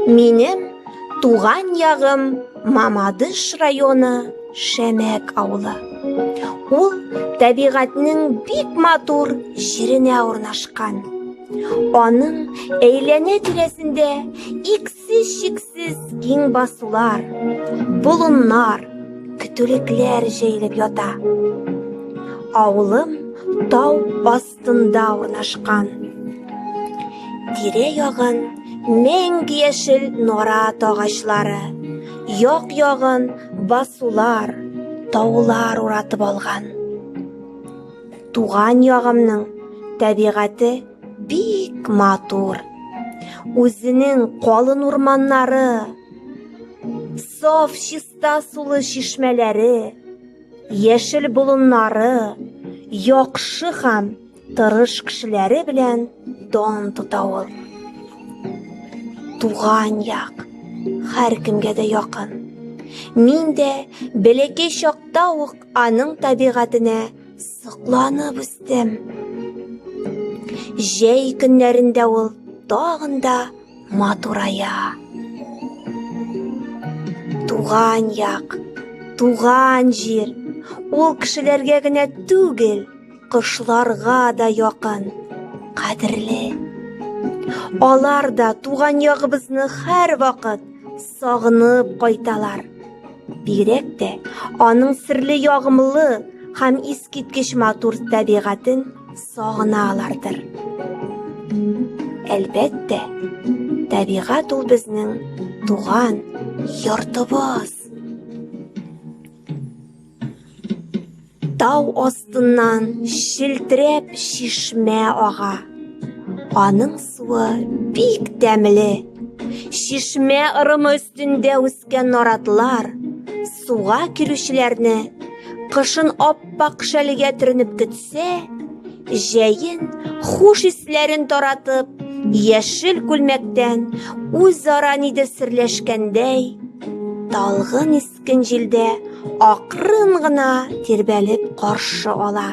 Минем туган ягым Мамадыш районы Шәмәк авылы. Ул табигатьнең бик матур җиренә урнашкан. Аның әйләнә тирәсендә иксез чиксез киң басулар, болыннар, көтүлекләр җәелеп ята. Авылым тау ас астында урнашкан. Тирә ягын мең яшел нора тагачлары, як ягын басулар, таулар уратып алган. Туган ягымның табигате бик матур. Үзенең калын урманнары, саф чиста сулы чишмәләре, Яшел болыннары, яхшы һәм тырыш кешеләре белән дан тота ул. Туган як, һәркемгә дә якын. Мин дә бәләкәй чакта ук аның табигатенә сокланып үстем. Җәй көннәрендә ул тагын да матурая. Туган як, туган җир, ул кешеләргә генә түгел, кошларга да якын, кадерле. Алар да туган ягыбызны һәр вакыт сагынып кайталар. Бигрәк тә аның серле ягымлы һәм искиткеч матур табигатен Сагыналардыр. Әлбәттә, табигать ул безнең туган йортыбыз. Тау астыннан шилтерәп шишмә ага. Аның суы бик тәмле. Шишмә ырымы өстендә үс Кипкән наратлар суга килүчеләрне кышын аппак шәлегә төренеп көтсә, җәен хуш исләрен таратып, яшел күлмәктән үзара нидер серләшкәндәй, талгын искен җилдә акрын гына тирбәлеп каршы ала.